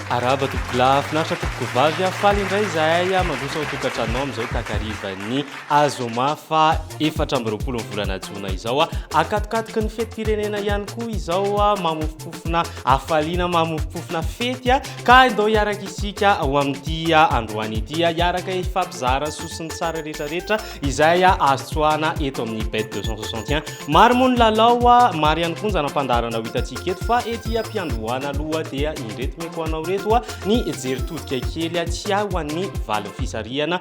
Arahaba tompoko lahy, finaritra tompoko vavy a, faly indray izahay a, mandroso ao tokantranonao amin'izao takarivan'ny azoma fa efatra amby roapolo ny volana jona izao a, akatokatoky ny fetim-pirenena ihany koa izao a, mamofo. Mamoropofona hafaliana, mamoropofona fety a! Ka andao hiaraka isika ho amin'ity androany ity hiaraka hifampizara sosonintsara rehetrarehetra izay azo tsoahana eto amin'ny bet 261. Maro moa ny lalao a, maro ihany koa ny zana-pandaharana ho hitantsika eto fa ety am-piandohana aloha dia indreto meko anao ireto a, ny jery todika kely a, tsy hay ho an'ny valin'ny fisarihana.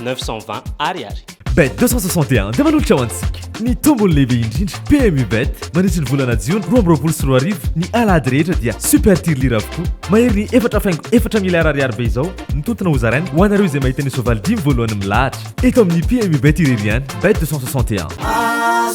920 ariary. Bet 261 dia manolotra ho antsika ny tombony lehibe indrindra PMU Bet mandritry ny volana jiona roa amby roapolo sy roa arivo ny alahady rehetra dia super tirelire avokoa mahery ny efatra faingo efatra miliara ariary be izao ny tontona hozaraina ho anareo izay mahita ny soavaly dimy voalohany milahatra eto amin'ny PMU Bet irery ihany Bet 261 ah,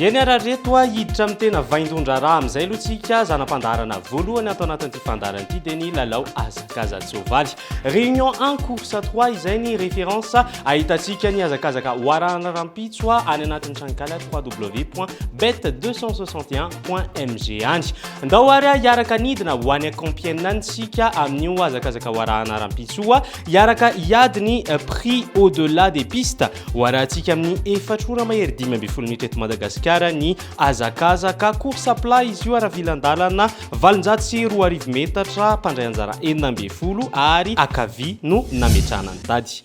Eny ara reto a, hiditra amin'ny tena vaindohan-draharaha amin'izay aloha tsika. Zana-pandaharana voalohany ato anatin'ity fandaharana ity dia ny lalao hazakazan-tsoavaly. Réunion 1 course 3 izay ny référence ahitantsika ny hazakazaka ho arahana rahampitso any anatin'ny tranonkala www.bet261.mg any. Ndao ary hiaraka nidina ho any Compiègne any tsika amin'io hazakazaka ho arahana rampitsoa hiaraka hiady ny prix au delà des pistes ho arahantsika amin'ny efatra ora mahery dimy ambin'ny folo minitra eto Madagasikara ny hazakazaka course à plat izy io ara-vilan-dalana valonjato sy roa arivo metatra mpandray anjara enina ambin'ny folo ary akavia no nametrahana ny tady.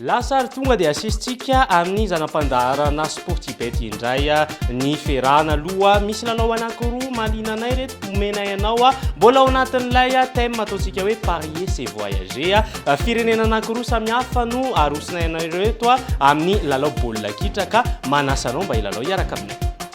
Lasa ary tonga dia asesitsika amin'ny zana-pandaharana Sportibet indray ny ferana aloha. Misy lalao anankiroa mahaliana anay ireto omenay anao. Mbola ao anatin'ilay thème ataontsika hoe parier c'est voyager. Firenena anankiroa samihafa no arosonay anareo eto amin'ny lalao baolina kitra ka manasa anao mba hilalao hiaraka aminay.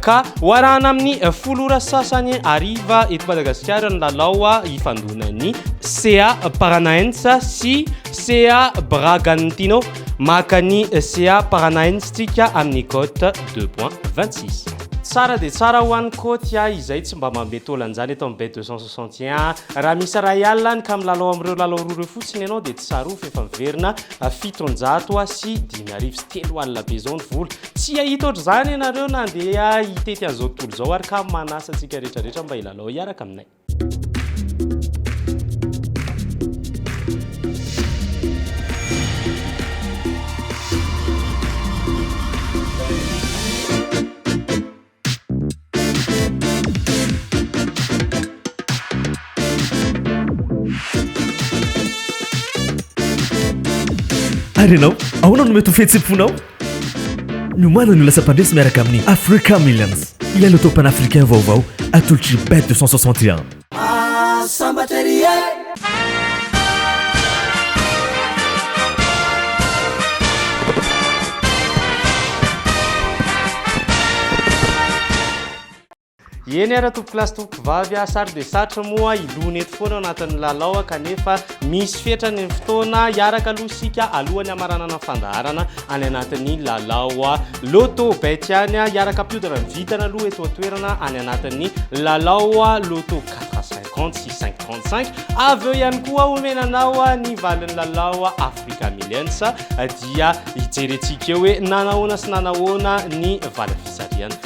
Ka ho arahana amin'ny folo ora sasany hariva eto Madagasikara ny lalao hifandonan'ny CA Paranaens sy CA Bragantino. Maka ny CA Paranaens tsika amin'ny cote deux point vingt six. Tsara dia tsara ho an'ny Côte a, izay tsy mba manome taola an'izany eto amin'ny Bet deux cent soixante et un. Raha misy iray alina any ka milalao amin'ireo lalao roa ireo fotsiny ianao dia tsarovy fa efa miverina fitonjato sy dimy arivo sy telo alina be izao ny vola. Tsy hahita ohatr'izany ianareo na handeha hitety an'izao tontolo izao ary ka manasa antsika rehetrarehetra mba hilalao hiaraka aminay. Ary ianao, ahoana no mety ho fihetsem-ponao? Ny omanan'ny olona sampandresy miaraka amin'ny Africa Millions, ilay loto-pan-africain vaovao atolotr'i Bet 261. sambatra ery e! Eny ara tompokolahy sy tompokovavy a, sary dia sarotra moa hilona eto foana ao anatin'ny lalao kanefa Misy fetra ny fotoana, hiaraka aloha isika alohan'ny hamaranana ny fandaharana any anatin'ny lalao Lotto bet ihany, hiaraka hampiodina ny vintana aloha eto an-toerana any anatin'ny lalao Lotto quatre à cinquante sy cinq trente cinq, avy eo ihany koa homena anao ny valin'ny lalao Africa Millions dia hijerentsika eo hoe nanahoana sy nanahoana ny valim-pitsarihana.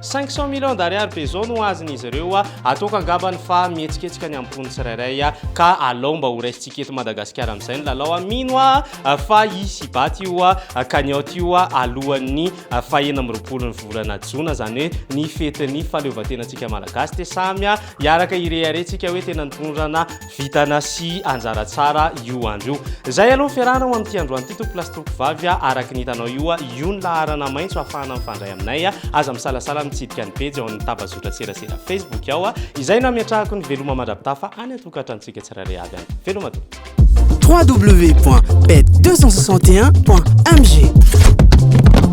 Cinq cents millions d'ariary be zao no azon'izy ireo atoko angambany fa mihetsiketsika ny am-pony tsirairay ka alao mba ho raisintsika eto Madagasikara amin'izay ny lalao a! Mino aho fa hisy hibaty io cagnotte io alohan'ny fahenina amby roapolon'ny volana jona izany hoe ny fetin'ny fahaleovantenantsika Malagasy dia samy hiaraka hirehareha tsika hoe tena nitondra na Vintana sy anjara tsara io andro io. Izay aloha ny fiarahana ho amin'ity androany ity tompoko lahy sy tompoko vavy a! Araka ny hitanao io a! Io ny laharana maitso ahafahana mifandray aminay a! Aza misalasala mitsidika ny pejy ao amin'ny tambazotran-tserasera Facebook ao a! Izay no hametrahako ny veloma mandra-pitafa any an-tokantranontsika tsirairay avy any. Veloma tompoko! www.pet261.mg.